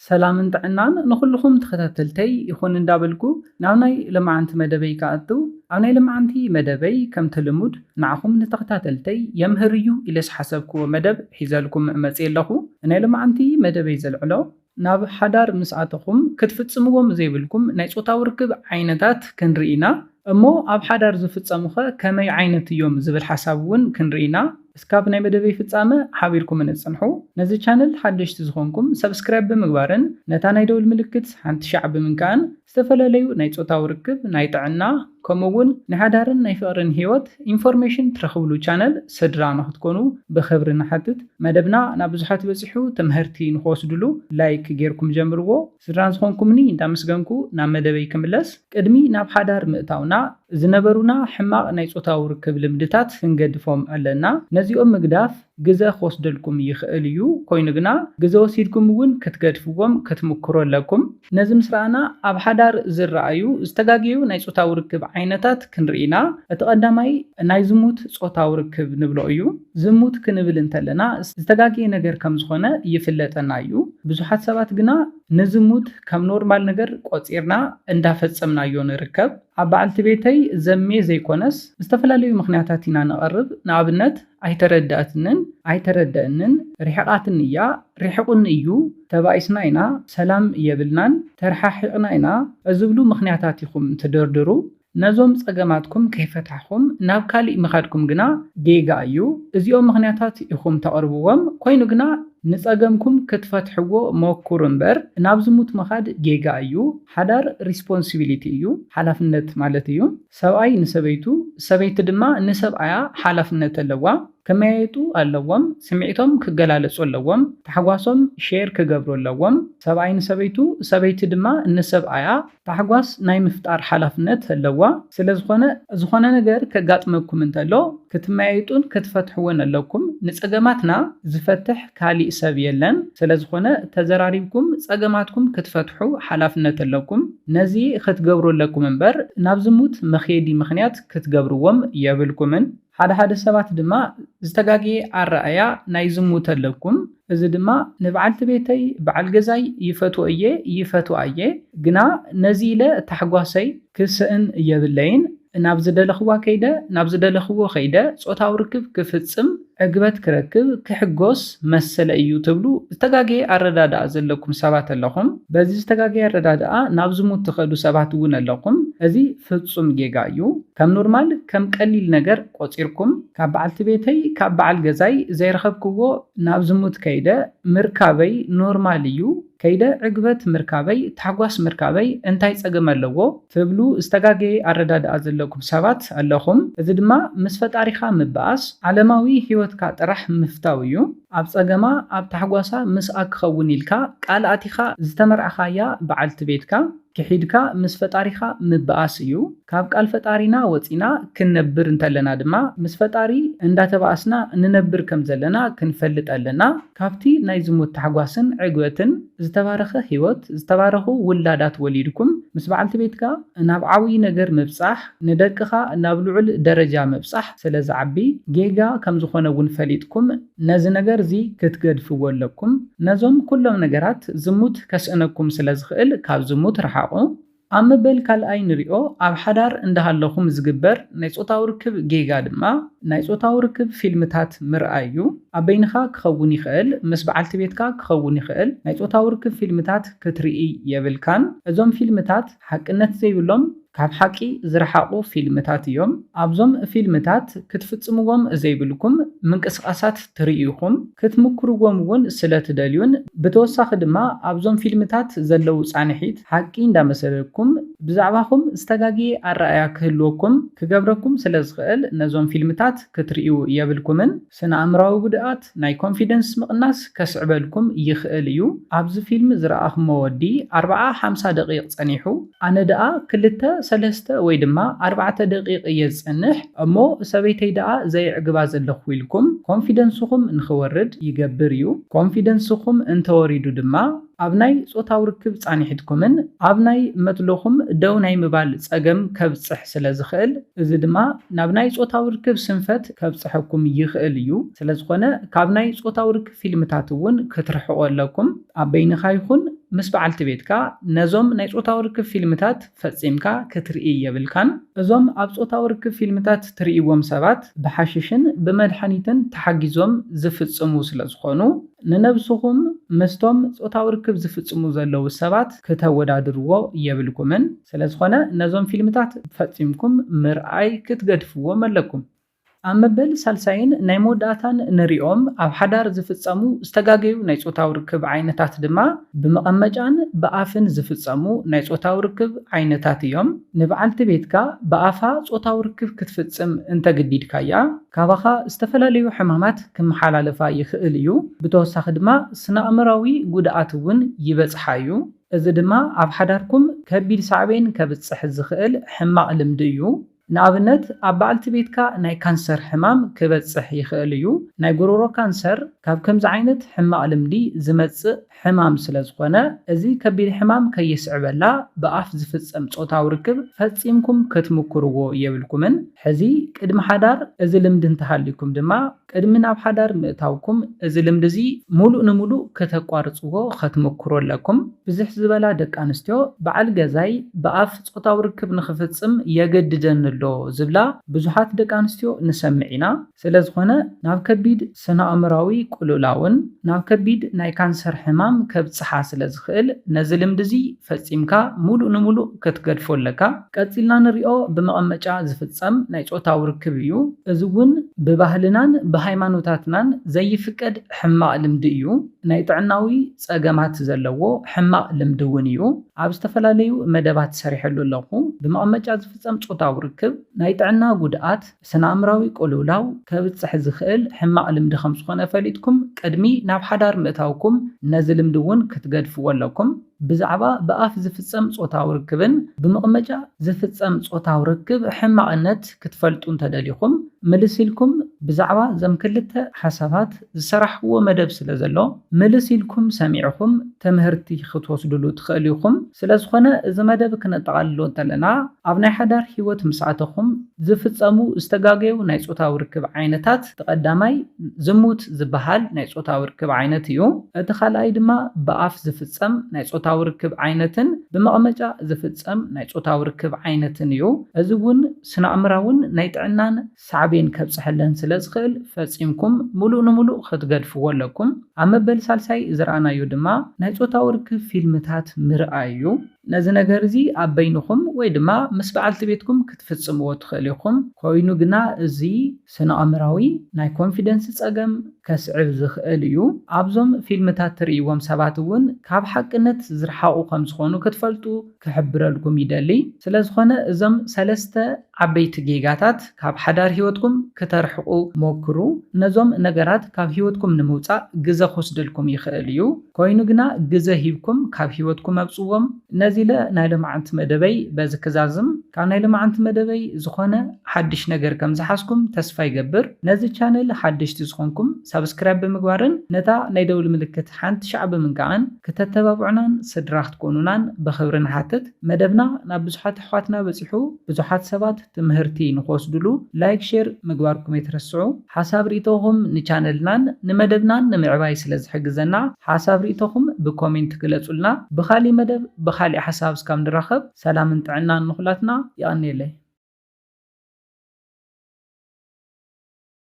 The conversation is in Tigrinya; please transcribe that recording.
ሰላምን ጥዕናን ንኹሉኹም ተኸታተልተይ ይኹን እንዳበልኩ ናብ ናይ ለማዓንቲ መደበይ ክኣቱ ኣብ ናይ ለማዓንቲ መደበይ ከምቲ ልሙድ ንዓኹም ንተኸታተልተይ የምህር እዩ ኢለ ዝሓሰብክዎ መደብ ሒዘልኩም መጽየ ኣለኹ ናይ ለማዓንቲ መደበይ ዘልዕሎ ናብ ሓዳር ምስ ኣተኹም ክትፍጽምዎም ዘይብልኩም ናይ ጾታዊ ርክብ ዓይነታት ክንርኢ ኢና እሞ ኣብ ሓዳር ዝፍጸሙኸ ከመይ ዓይነት እዮም ዝብል ሓሳብ ውን ክንርኢ ኢና። እስካብ ናይ መደበይ ፍጻመ ሓቢርኩምኒ ጽንሑ። ነዚ ቻነል ሓደሽቲ ዝኾንኩም ሰብስክራይብ ብምግባርን ነታ ናይ ደውል ምልክት ሓንቲ ሻዕ ብምንካእን ዝተፈላለዩ ናይ ጾታዊ ርክብ፣ ናይ ጥዕና ከምኡ እውን ናይ ሓዳርን ናይ ፍቕርን ህይወት ኢንፎርሜሽን ትረኽብሉ ቻነል ስድራ ንኽትኮኑ ብኽብሪ ንሓትት። መደብና ናብ ብዙሓት በጺሑ ተመሀርቲ ንኽወስድሉ ላይክ ጌርኩም ጀምርዎ። ስድራ ዝኾንኩምኒ እንዳመስገንኩ ናብ መደበይ ክምለስ፣ ቅድሚ ናብ ሓዳር ምእታውና ዝነበሩና ሕማቕ ናይ ጾታዊ ርክብ ልምድታት ክንገድፎም ኣለና። ነዚኦም ምግዳፍ ግዘ ክወስደልኩም ይኽእል እዩ፣ ኮይኑ ግና ግዘ ወሲድኩም እውን ክትገድፍዎም ክትምኩሩ ኣለኩም። ነዚ ምስ ረኣና ኣብ ሓዳር ዝረኣዩ ዝተጋገዩ ናይ ጾታዊ ርክብ ዓይነታት ክንርኢ ኢና። እቲ ቀዳማይ ናይ ዝሙት ጾታዊ ርክብ ንብሎ እዩ። ዝሙት ክንብል እንተለና ዝተጋገየ ነገር ከም ዝኾነ ይፍለጠና እዩ። ብዙሓት ሰባት ግና ንዝሙት ከም ኖርማል ነገር ቆጺርና እንዳፈጸምናዮ ንርከብ። ኣብ በዓልቲ ቤተይ ዘምየ ዘይኮነስ ዝተፈላለዩ ምኽንያታት ኢና ነቐርብ ንኣብነት ኣይተረደኣትንን፣ ኣይተረደእንን፣ ሪሕቓትኒ እያ፣ ሪሕቑኒ እዩ፣ ተባኢስና ኢና፣ ሰላም የብልናን፣ ተርሓሒቕና ኢና ዝብሉ ምኽንያታት ኢኹም ትድርድሩ። ነዞም ጸገማትኩም ከይፈታሕኹም ናብ ካሊእ ምኻድኩም ግና ጌጋ እዩ። እዚኦም ምኽንያታት ኢኹም ተቕርብዎም፣ ኮይኑ ግና ንጸገምኩም ክትፈትሕዎ ሞኩሩ እምበር ናብ ዝሙት ምኻድ ጌጋ እዩ። ሓዳር ሪስፖንሲቢሊቲ እዩ፣ ሓላፍነት ማለት እዩ። ሰብኣይ ንሰበይቱ፣ ሰበይቲ ድማ ንሰብኣያ ሓላፍነት ኣለዋ። ክመያየጡ ኣለዎም፣ ስምዒቶም ክገላለጹ ኣለዎም፣ ታሕጓሶም ሼር ክገብሩ ኣለዎም። ሰብኣይ ንሰበይቱ፣ ሰበይቲ ድማ ንሰብኣያ ታሕጓስ ናይ ምፍጣር ሓላፍነት ኣለዋ። ስለዝኾነ ዝኾነ ነገር ከጋጥመኩም እንተሎ ክትመያይጡን ክትፈትሕዎን ኣለኩም። ንጸገማትና ዝፈትሕ ካሊእ ሰብ የለን። ስለዝኾነ ተዘራሪብኩም ጸገማትኩም ክትፈትሑ ሓላፍነት ኣለኩም። ነዚ ክትገብሩ ኣለኩም እምበር ናብ ዝሙት መኽየዲ ምኽንያት ክትገብርዎም የብልኩምን። ሓደ ሓደ ሰባት ድማ ዝተጋገየ ኣረኣእያ ናይ ዝሙት ኣለኩም እዚ ድማ ንብዓልቲ ቤተይ ብዓል ገዛይ ይፈትዎ እየ ይፈትዋ እየ ግና ነዚ ኢለ ታሕጓሰይ ክስእን የብለይን ናብ ዝደለክዋ ከይደ ናብ ዝደለክዎ ከይደ ጾታዊ ርክብ ክፍጽም ዕግበት ክረክብ ክሕጎስ መሰለይ እዩ ትብሉ ዝተጋገየ ኣረዳድኣ ዘለኩም ሰባት ኣለኹም በዚ ዝተጋገየ ኣረዳድኣ ናብ ዝሙት ትከዱ ሰባት እውን ኣለኹም እዚ ፍጹም ጌጋ እዩ ከም ኖርማል ከም ቀሊል ነገር ቆጺርኩም ካብ በዓልቲ ቤተይ ካብ በዓል ገዛይ ዘይረኸብክዎ ናብ ዝሙት ከይደ ምርካበይ ኖርማል እዩ ከይደ ዕግበት ምርካበይ ታሕጓስ ምርካበይ እንታይ ጸገም ኣለዎ ትብሉ ዝተጋገየ ኣረዳድኣ ዘለኩም ሰባት ኣለኹም እዚ ድማ ምስ ፈጣሪኻ ምባኣስ ዓለማዊ ሂወትካ ጥራሕ ምፍታው እዩ። ኣብ ጸገማ ኣብ ታሕጓሳ ምስኣ ክኸውን ኢልካ ቃል ኣቲኻ ዝተመርዓኻያ በዓልቲ ቤትካ ክሒድካ ምስ ፈጣሪኻ ምብኣስ እዩ። ካብ ቃል ፈጣሪና ወጺና ክንነብር እንተለና ድማ ምስ ፈጣሪ እንዳተባኣስና ንነብር ከም ዘለና ክንፈልጥ ኣለና። ካብቲ ናይ ዝሙት ታሕጓስን ዕግበትን ዝተባረኸ ሂወት ዝተባረኹ ውላዳት ወሊድኩም ምስ በዓልቲ ቤትካ ናብ ዓብይ ነገር ምብጻሕ፣ ንደቅኻ ናብ ልዑል ደረጃ ምብጻሕ ስለ ዝዓቢ ጌጋ ከም ዝኾነ እውን ፈሊጥኩም ነዚ ነገር እዚ ክትገድፍዎ ኣለኩም። ነዞም ኩሎም ነገራት ዝሙት ከስእነኩም ስለ ዝኽእል ካብ ዝሙት ርሓቑ። ኣብ መበል ካልኣይ ንሪኦ ኣብ ሓዳር እንዳሃለኹም ዝግበር ናይ ጾታዊ ርክብ ጌጋ ድማ ናይ ጾታዊ ርክብ ፊልምታት ምርኣይ እዩ። ኣብ በይንኻ ክኸውን ይኽእል ምስ በዓልቲ ቤትካ ክኸውን ይኽእል ናይ ጾታዊ ርክብ ፊልምታት ክትርኢ የብልካን። እዞም ፊልምታት ሓቅነት ዘይብሎም፣ ካብ ሓቂ ዝረሓቑ ፊልምታት እዮም። ኣብዞም ፊልምታት ክትፍጽምዎም ዘይብልኩም ምንቅስቓሳት ትርእዩ ኢኹም፣ ክትምኩርዎም እውን ስለ ትደልዩን ብተወሳኺ ድማ ኣብዞም ፊልምታት ዘለዉ ጻንሒት ሓቂ እንዳመሰለኩም ብዛዕባኹም ዝተጋግየ ኣረኣእያ ክህልወኩም ክገብረኩም ስለ ዝኽእል ነዞም ፊልምታት ክትርእዩ የብልኩምን። ስነኣእምራዊ ጉድኣት፣ ናይ ኮንፊደንስ ምቕናስ ከስዕበልኩም ይኽእል እዩ። ኣብዚ ፊልም ዝረኣኹሞ ወዲ ኣርብዓ ሓምሳ ደቒቕ ጸኒሑ፣ ኣነ ደኣ ክልተ ሰለስተ ወይ ድማ ኣርባዕተ ደቒቕ እየ ዝጸንሕ እሞ ሰበይተይ ደኣ ዘየዕግባ ዘለኹ ኢልኩም ኮንፊደንስኹም ንኽወርድ ይገብር እዩ። ኮንፊደንስኹም እንተወሪዱ ድማ ኣብ ናይ ጾታዊ ርክብ ጻኒሕትኩምን ኣብ ናይ መትሎኹም ደው ናይ ምባል ጸገም ከብጽሕ ስለ ዝኽእል፣ እዚ ድማ ናብ ናይ ጾታዊ ርክብ ስንፈት ከብጽሐኩም ይኽእል እዩ፣ ስለ ዝኾነ ካብ ናይ ጾታዊ ርክብ ፊልምታት እውን ክትርሕቁ ኣለኩም፣ ኣብ በይንኻ ይኹን ምስ በዓልቲ ቤትካ ነዞም ናይ ጾታዊ ርክብ ፊልምታት። ፈጺምካ ክትርኢ የብልካን። እዞም ኣብ ጾታዊ ርክብ ፊልምታት ትርእይዎም ሰባት ብሓሽሽን ብመድሓኒትን ተሓጊዞም ዝፍጽሙ ስለ ዝኾኑ፣ ንነብስኹም ምስቶም ጾታዊ ርክብ ዝፍጽሙ ዘለዉ ሰባት ክተወዳድርዎ የብልኩምን። ስለ ዝኾነ ነዞም ፊልምታት ፈጺምኩም ምርኣይ ክትገድፍዎም ኣለኩም። ኣብ መበል ሳልሳይን ናይ መወዳእታን ንርእዮም ኣብ ሓዳር ዝፍጸሙ ዝተጋገዩ ናይ ጾታዊ ርክብ ዓይነታት ድማ ብመቐመጫን ብኣፍን ዝፍጸሙ ናይ ጾታዊ ርክብ ዓይነታት እዮም። ንብዓልቲ ቤትካ ብኣፋ ጾታዊ ርክብ ክትፍጽም እንተግዲድካያ ካባኻ ዝተፈላለዩ ሕማማት ክመሓላለፋ ይኽእል እዩ። ብተወሳኺ ድማ ስነኣእምራዊ ጉድኣት እውን ይበጽሓ እዩ። እዚ ድማ ኣብ ሓዳርኩም ከቢድ ሳዕቤን ከብጽሕ ዝኽእል ሕማቕ ልምዲ እዩ። ንኣብነት ኣብ በዓልቲ ቤትካ ናይ ካንሰር ሕማም ክበጽሕ ይኽእል እዩ። ናይ ጎሮሮ ካንሰር ካብ ከምዚ ዓይነት ሕማቕ ልምዲ ዝመጽእ ሕማም ስለ ዝኾነ፣ እዚ ከቢድ ሕማም ከየስዕበላ ብኣፍ ዝፍጸም ጾታዊ ርክብ ፈጺምኩም ክትምኩርዎ የብልኩምን። ሕዚ ቅድሚ ሓዳር እዚ ልምዲ እንተሃልዩኩም ድማ ቅድሚ ናብ ሓዳር ምእታውኩም እዚ ልምዲ እዚ ሙሉእ ንሙሉእ ክተቋርጽዎ ከትምኩሩ ኣለኩም። ብዝሕ ዝበላ ደቂ ኣንስትዮ በዓል ገዛይ ብኣፍ ጾታዊ ርክብ ንክፍጽም የገድደኒ ኣሎ ዝብላ ብዙሓት ደቂ ኣንስትዮ ንሰምዕ ኢና። ስለዝኾነ ናብ ከቢድ ስነኣእምራዊ ቁሉላውን ናብ ከቢድ ናይ ካንሰር ሕማም ከብጽሓ ስለዝኽእል ነዚ ልምዲ እዚ ፈጺምካ ሙሉእ ንሙሉእ ክትገድፎ ኣለካ። ቀጺልና ንሪኦ ብመቐመጫ ዝፍጸም ናይ ጾታዊ ርክብ እዩ። እዚ እውን ብባህልናን ብሃይማኖታትናን ዘይፍቀድ ሕማቕ ልምዲ እዩ። ናይ ጥዕናዊ ጸገማት ዘለዎ ሕማቕ ልምዲ እውን እዩ። ኣብ ዝተፈላለዩ መደባት ሰሪሐሉ ኣለኹ። ብመቐመጫ ዝፍጸም ጾታዊ ርክብ ናይ ጥዕና ጉድኣት፣ ስነ-ኣእምራዊ ቅልውላው ከብጽሕ ዝኽእል ሕማቕ ልምዲ ከም ዝኾነ ፈሊጥኩም ቅድሚ ናብ ሓዳር ምእታውኩም ነዚ ልምዲ እውን ክትገድፍዎ ኣለኩም። ብዛዕባ ብኣፍ ዝፍጸም ጾታዊ ርክብን ብመቕመጫ ዝፍጸም ጾታዊ ርክብ ሕማቕነት ክትፈልጡ እንተደሊኹም ምልስ ኢልኩም ብዛዕባ እዞም ክልተ ሓሳባት ዝሰራሕክዎ መደብ ስለ ዘሎ ምልስ ኢልኩም ሰሚዕኹም ተምህርቲ ክትወስድሉ ትኽእል ኢኹም ስለዝኾነ እዚ መደብ ክነጠቓልሎ እንተለና ኣብ ናይ ሓዳር ሂወት ምስ ኣተኹም ዝፍጸሙ ዝተጋገዩ ናይ ጾታዊ ርክብ ዓይነታት እቲ ቀዳማይ ዝሙት ዝበሃል ናይ ጾታዊ ርክብ ዓይነት እዩ እቲ ካልኣይ ድማ ብኣፍ ዝፍጸም ናይ ጾታዊ ርክብ ዓይነትን ብመቕመጫ ዝፍጸም ናይ ጾታዊ ርክብ ዓይነትን እዩ እዚ ውን ስነኣእምራውን ናይ ጥዕናን ሳዕቤን ከብጽሐለን ስለ ዝኽእል ፈጺምኩም ምሉእ ንምሉእ ኽትገድፍዎ ኣለኩም። ኣብ መበል ሳልሳይ ዝረኣናዮ ድማ ናይ ጾታዊ ርክብ ፊልምታት ምርኣይ እዩ። ነዚ ነገር እዚ ኣብ በይንኹም ወይ ድማ ምስ በዓልቲ ቤትኩም ክትፍጽምዎ ትኽእሉ ኢኹም፣ ኰይኑ ግና እዚ ስነ-ኣእምሮኣዊ ናይ ኮንፊደንስ ጸገም ከስዕብ ዝኽእል እዩ። ኣብዞም ፊልምታት ትርእይዎም ሰባት እውን ካብ ሓቅነት ዝረሓቑ ከም ዝዀኑ ክትፈልጡ ክሕብረልኩም ይደሊ። ስለ ዝዀነ እዞም ሰለስተ ዓበይቲ ጌጋታት ካብ ሓዳር ሂወትኩም ክተርሕቁ ሞክሩ ነዞም ነገራት ካብ ሂወትኩም ንምውጻእ ግዘ ክወስደልኩም ይክእል እዩ ኮይኑ ግና ግዘ ሂብኩም ካብ ሂወትኩም ኣውጽዎም ነዚ ኢለ ናይ ሎምዓንቲ መደበይ በዚ ክዛዝም ካብ ናይ ሎምዓንቲ መደበይ ዝኮነ ሓድሽ ነገር ከም ዝሓዝኩም ተስፋ ይገብር ነዚ ቻነል ሓደሽቲ ዝኮንኩም ሳብስክራይብ ብምግባርን ነታ ናይ ደውል ምልክት ሓንቲ ሻዕ ብምንካዕን ክተተባብዑናን ስድራ ክትኮኑናን ብክብሪ ንሓትት መደብና ናብ ብዙሓት ኣሕዋትና በጺሑ ብዙሓት ሰባት ትምህርቲ ንክወስድሉ ላይክ ሼር ምግባርኩም ኣይትረስዑ ሓሳብ ሪኢቶኹም ንቻነልናን ንመደብናን ንምዕባይ ስለ ዝሕግዘና ሓሳብ ሪኢቶኹም ብኮሜንት ግለጹልና ብኻሊእ መደብ ብኻሊእ ሓሳብ እስካብ ንራኸብ ሰላምን ጥዕናን ንኹላትና የቐንየለይ።